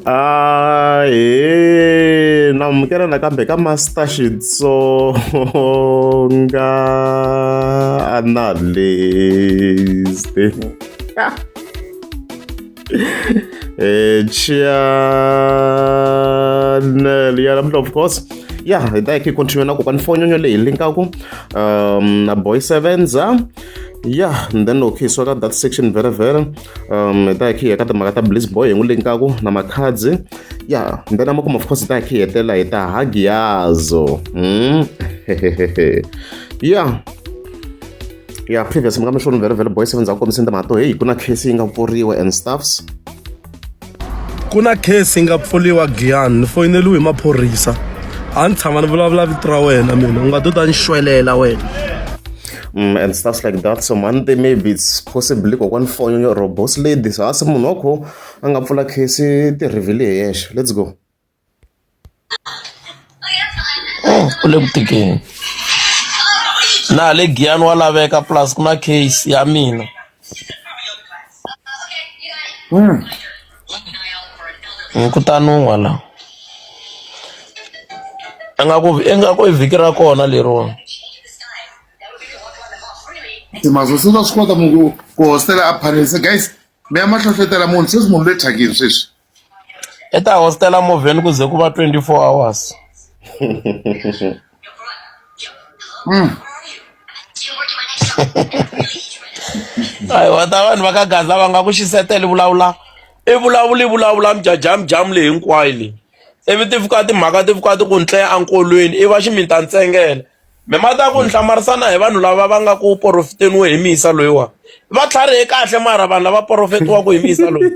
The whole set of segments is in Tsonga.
Ah, he na amukela nakambe ka master xitsonga analyst eh channel ya lamhla of course ya hi ta hi continue na kokwana fonyonyo leyi linkaku um na boy sevenza ya and then loko hi suka ka that section vherevhere um hi ta hi kha hi ya ka timhaka ta bliss boy hi n'wi linkaku na makhadzi ya and then amakumu of course hi ta hi kha hi hetelela hi ta hagiyazo hmm? ya ya previous mi nga mi xona vherevhere boy seven ndza ku kombiseni timhaka to heyi ku na case yi nga pfuriwa and stuffs ku na case yi nga pfuriwa giyani ni foyineliwe hi maphorisa a ni tshama ni vulavula vito ra wena mina u nga to ta ni xwelela wena Mm, and stuff like that so monday maybe it's possibly kokwani fonyo yo robos ladies hasi munhu wa kho a nga pfula case ti-revele hi yexe let's go u le ku tikeni na le giyani wa laveka plus ku na case ya mina hmm. hmm, kutani un'wa la ingaku ingaku i vhiki ra kona leriwani timazo se va swi kota munhu ku hostela a phalelisa guys mi ya mahlohletela munhu sweswi munhu le thyakini sweswi I ta hostela movheni ku ze ku va 24 hours. Ai wa ta vanhu va ka gaza va nga ku xiseteli vulavula i vulavula i vulavula mjajamujamu leyi hinkwayo leyi ivi ti fika timhaka ti fika ti ku ntleya enkolweni i va ximita ntsengele mi mati ya ku ni hlamarisana hi vanhu lava va nga ku porofiteniwe hi misa loyiwa va tlharihe kahle mara vanhu lava porofetiwaka hi misa loyi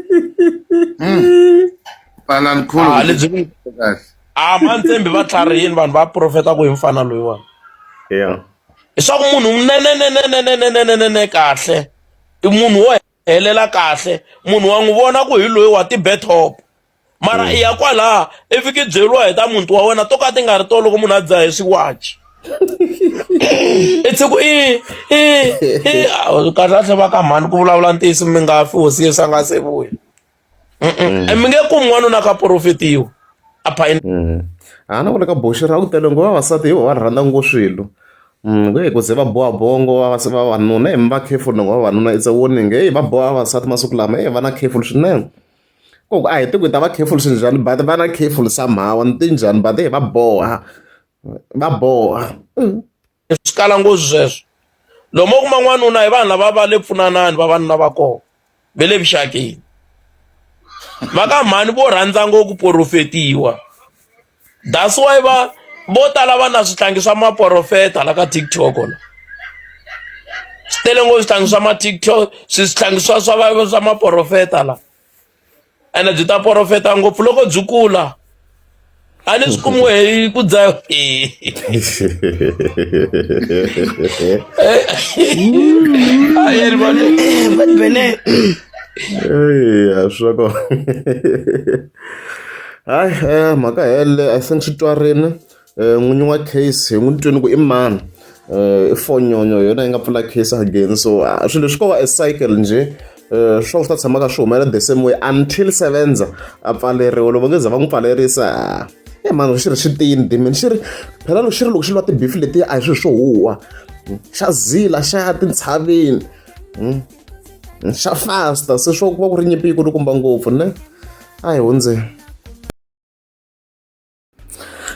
Palan khulu. Ah, lebyi ku- Kahle. a mantsembi va tlharihini vanhu va porofetaka hi mfana loyiwa Yeah. leswaku munhu unenenenenenenenenene kahle i munhu wo helela kahle munhu wa n'wi vona ku hi loyi wa ti-betop mara mm. i ya kwalaha i fiki byeriwa hi ta muti wa wena to ka ti nga ri to loko munhu a dzaha hi swiwachi it's ku i i i kahle kahle va ka mhani ku vulavula ntiyiso mi nga fi hosi yesu a nga se vuya mi nge kumi n'wanuna ka porofetiwa a phayini mm. a ah, na vona ka boxi ra ku tele ngo vavasati hi vo va rhandza ngo swilo mm, nge ku ze va boha bongo vavanuna hi mi va careful ngo vavanuna it's a warning heyi va boha vavasati masiku lama e va na careful swinene koku a hi tiku hi ta va careful swinjhani but va na careful somehow ni tinjhani but hi va boha va boha mm. swi kala nghozi sweswo lomu kuma n'wanuna hi vanhu lava va le pfunanani vavanuna va kona ve le vuxakeni va ka mhani vo rhandza ngo ku porofetiwa that's why va vo tala va na swihlangi swa maporofeta la ka tiktok la swi tele ngo swihlangi swa ma tiktok swihlangi swa swa swa maporofeta la ene byi ta porofeta ngopfu loko byi kula a ni swi kumiwe hi ku dzayo bene swa kona hayi eh, mhaka hele i think xi twarini n'winyi wa case hi n'wi twini ku i mani i fonyonyo hi yona yi nga pfula case again so swilo leswi ko va e cycle njhe Eh, swo swi ta tshamaka swi humelela the same way until sevenza a pfaleriwa loko nge za va n'wi pfalerisa e mani xi ri xi tiyini dimini xi ri phela loko xi ri loko xi lwa tibifi letiya a hi swilo swo huwa xa zila xa ya tintshaveni hmm? xa fasta se swo ku va ku ri nyimpi yi kulukumba ngopfu ne a hi hundzeni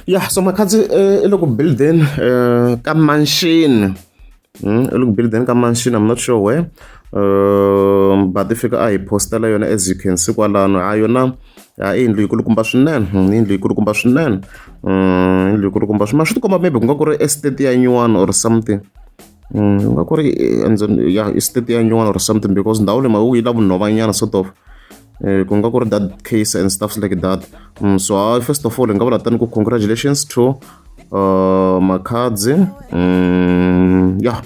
ya so makhansi eh, i le ku buildeni eh, ka manxini hmm, i le ku buildeni ka manxini i'm not sure where um but i fika a hi postela yona as you can see kwalano ha yona ha i yindlu yikulukumba swinene hmm, yindlu yikulukumba swinene um yindlu yikulukumba swinene ma swi tikomba maybe ku nga ku ri estate ya nyuwana or something Mm, nga ku ri eh, ya state ya nyuwana or something because ndhawu leyi mhaka ku yi la vunhovanyana sort of Eh, ku nga ku ri that case and stuffs like that mm, so uh, first of all hi nga vula tani ku congratulations to uh, makhadzi mm, ya yeah.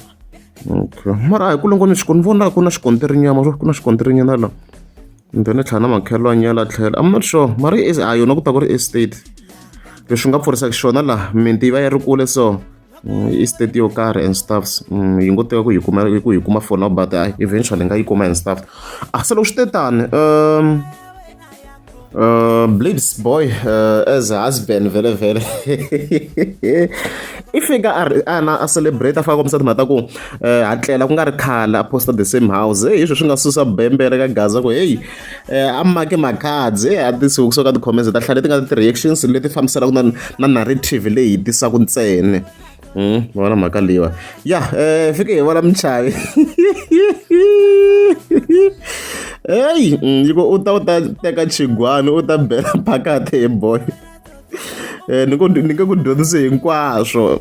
okay. mara a hi ku longo ni xikoni vona ku na xikonterinyama ku na xikonterinyana la kumbe ni tlhela na makhelwani ya la tlhela i'm not sure mara a yona ku ta ku ri estate leswi nga pfurisaka xona laha minti yi va yi ri kule so mm, i state yo karhi and staffs mm, yi ngo teka ku yi kuma ku yi kuma for now but uh, eventually nga yi kuma and staff ah se loko swi te tani um uh, blades boy uh, as a husband vele vele i fika a ri ana a celebrate a faka kombisa timhaka ta ku eh, ha tlela ku nga ri khale a posta the same house heyi swi swi nga susa bembere ka gaza ku heyi a make makhadzi a ti siku kusuka ka ti-comments ta hlaya leti nga na ti-reactions leti fambisanaka na na narrative leyi hi tisaka ntsena Hmm, vona mhaka leyiwa ya um fike hi vona muchavi heyi hmm, yi ku u ta u ta teka chigwani u ta bela phakati hi boy um ni ku ni nge ku dyondzise hinkwaswo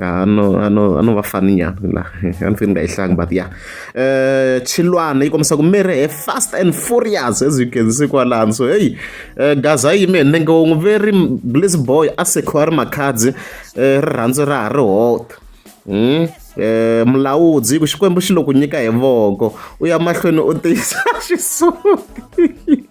Ah, no ah, no ah, no va fani ya la a ni fini nga yi hlangi but ya eh chilwana yi kombisa ku miri he fast and furious as you can see kwalani so hey eh, gaza yi me nenge wo n'wi veri bliss boy a sekhiwa ri makhadzi eh, rirhandzu ra ha ri hota hmm? eh, mulawudzi hi ku xikwembu xi lo ku nyika hi voko u ya mahlweni u tiyisa xisuti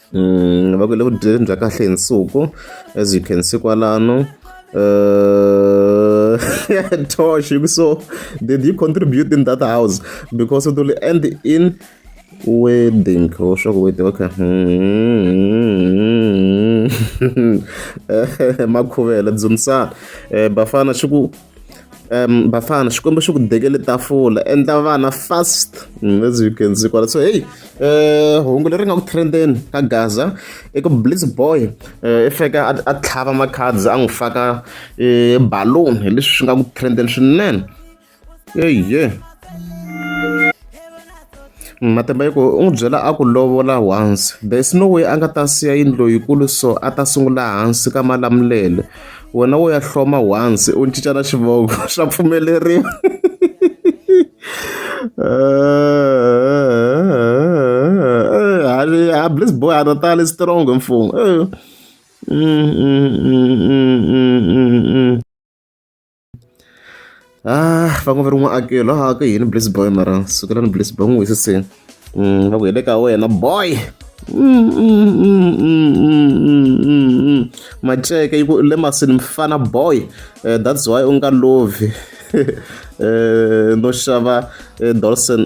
mm, va ku le ku dyeleni bya kahle hi nsuku as you can see kwalano uh, tosh so did you contribute in that house because it will end in wedding or shock wedding okay makhuvela dzunisa eh, bafana swi ku um bafana xikwembu xi ku dekele tafula endla vana fast mm, as you can see kwala so heyi um hungu leri nga ku trendeni ka gaza i ku blitz boy um i fika a tlhava macards a n'wi faka um balloon hi leswi swi nga ku trendeni swinene eye Matimba yi ku u n'wi byela a ku lovola once there is no way a nga ta siya yindlu loyikulu so a ta sungula hansi ka malamulele wena wo ya hloma once u cinca na xivongo swa pfumeleriwa a bliss boy a ri tali strong mfumo mm, mm, mm, Ah, va ngo va ri n'waakelo a ka yini bliss boy mara sukelani bliss boy n'wi wisise mm, va ku hi le ka wena boy mm, mm, maceke yi ku le masini mfana boy eh, that's why u nga lovi eh, no xava eh, dolson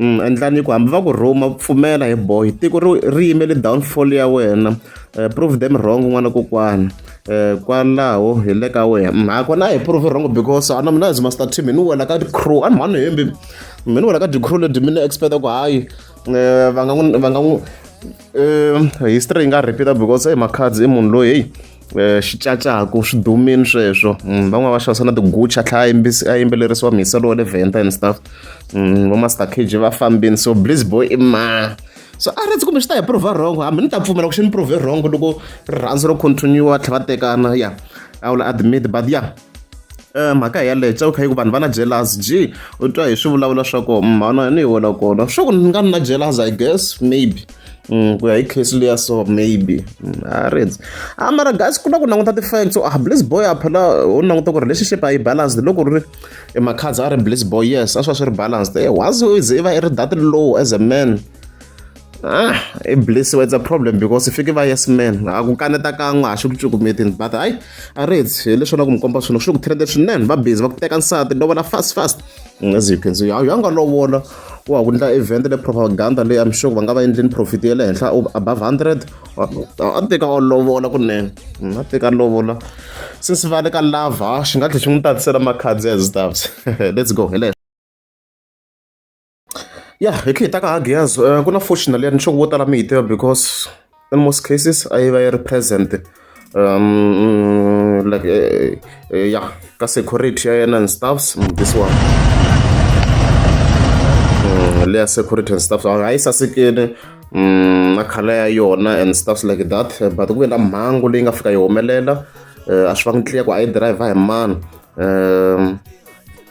endlani ku hambi va ku rhuma pfumela hi boy tiko ri ri yimele downfall ya wena eh, prove them wrong n'wana kokwana eh, kwalaho hi le ka wena mm, hakona a hi prove wrong because ana mina as master team hi ni wela ka crew a ni mhani hembi mi ni wela ka crew leti mi ni expect ku hayi eh, va nga n'wi va nga n'wi history yi nga repeat because hey makhadzi i munhu loyi heyi Eh, xicacaku swi dumile sweswo mm, van'wana va xavisa na tigucha tlhaya a yimbeleriwa mhiselo wa le venta and stuff mm, va master cage va fambini so bliz boy i ma so a rhandzi kumbe swi ta hi prove wrong hambi ni ta pfumela ku xi ni prove wrong loko rirhandzu ro continue tlhe va tekana ya i will admit but ya mhaka hi yaleyo tsaka kha yi ku vanhu va na jealous ji u twa hi swivulavulo swa ko mhana ni yi wela kona swa ku ni nga ni na jealous i guess maybe mm, ku ya hi case leya so maybe mm, a rindzi a ah, mara guys ku na ku languta ti-fact so ah bliss boy a phela u languta ku relationship a yi balanced loko ri e makhadza a ri bliss boy yes a swi va swi ri balanced e once u ze i va i ri that low as a man Ah, i bliss it's a problem because fike va yes man a ku kaneta kan'we a xi ku cukumetini but hayi a ri hedzi hi leswi na ku mi komba swilo swi ku trende swinene va busy va ku teka nsati no vona fast fast as you can see a yanga lovola wa ku endla event le propaganda leyi i'm sure va nga va endleni profit ya le henhla above 100 a teka o lovola kunene mm, a teka lovola since va le ka lava xi nga tlhe xi n'wi tatisela makhadzi as stuffs let's go hi Ya hi tlhe hi ta ka ha Giyaz ku na fortunate leyi ni sure vo tala mi yi tiva because in most cases a yi va yi ri present um like ya ka security ya yena and stuffs this one leya security and stuff a yi sasekile na khala ya yona and stuffs like that but ku ve na mhangu leyi nga fika yi humelela a swi va ngi tliya ku a yi dirayivha hi mani um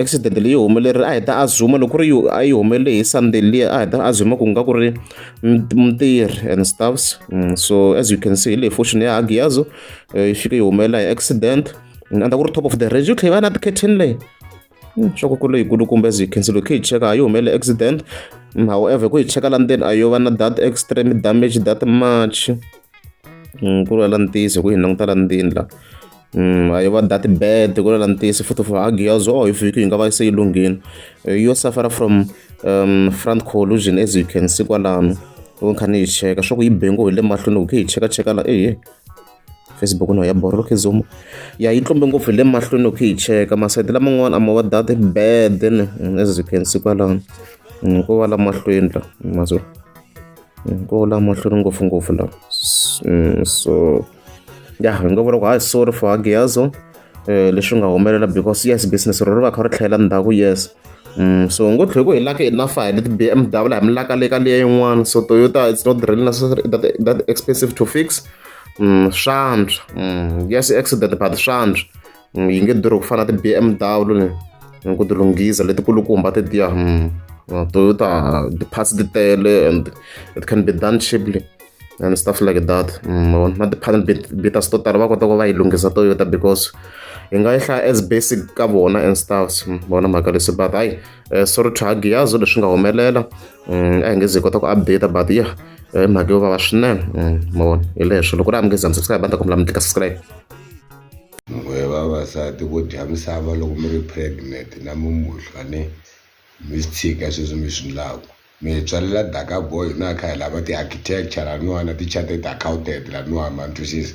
accident leyi humelerile a hi ta azuma loko ri a yi humelele hi sunday liya a hi ta azuma ku nga ku ri mutirhi and stuffs mm, so as you can see hi leyi fortune ya hagiyazo eh, yi fike yi humelela hi accident mm, andza ku ri top of the range yi tlhe yi va na ti-curtain leyi mm, swa ku ku leyikulu kumbe as you can see loko hi cheka a yi humelele accident however ku hi cheka la ndzeni a yo va na that extreme damage that much ku ri la ntiyiso ku hi languta la ndzeni la Mm, ayo va dati bed ku lela ntisi futhi for hagi yazo oh if you nga va se ilungile eh, yo suffer from um front collusion as you can see kwalano u kha ni yi cheka swa ku yi bengo hi le mahlweni u khe yi cheka cheka la eh facebook no ya borolo khe zoom ya yi tlombe ngopfu hi le mahlweni u khe yi cheka masayiti laman'wana ama va dati bed then mm, as you can see kwalano mm, ko va la mahlweni la mazulu ko la mahlweni ngopfungopfu la so ya hi nga vula ku hayi sorry for hagiyazo um leswi nga humelela because yes business ro ri va kha ri tlhela ndhaku yes Mm, so ngo tlhe ku hi laka enough hi leti BMW hi mi laka le ka leya yin'wana so Toyota it's not really necessary that, that expensive to fix mm, swantswa mm, yes accident but swantswa mm, yi nge durhi ku fana na ti-bmw ni mm, ku ti lunghisa letikulukumba ti tiya mm, uh, toyota ti-parts ti tele and it can be done cheaply and stuff like that na ti-panel beaters to tala va kota ku va yi lunghisa toyota because hi nga yi hlaya as basic ka vona and stuffs vona mhaka leswi but hayi eh, sorry to hagiyazo leswi nga humelela a hi nge ze hi kota ku update but yeah mhaka yo vava swinene ma vona hi leswo loko ri amukeza mi subscribe a ni ta kombela mi tlika subscribe n'we vavasati vo dya misava loko mi ri pregnant na mumuhlwa ni mi swi tshika sweswi mi swi ndlaku mi hi tswalela daka boy na kha hi lava ti-architecture laniwani na ti-charted accountant laniwani ma ni twisisa.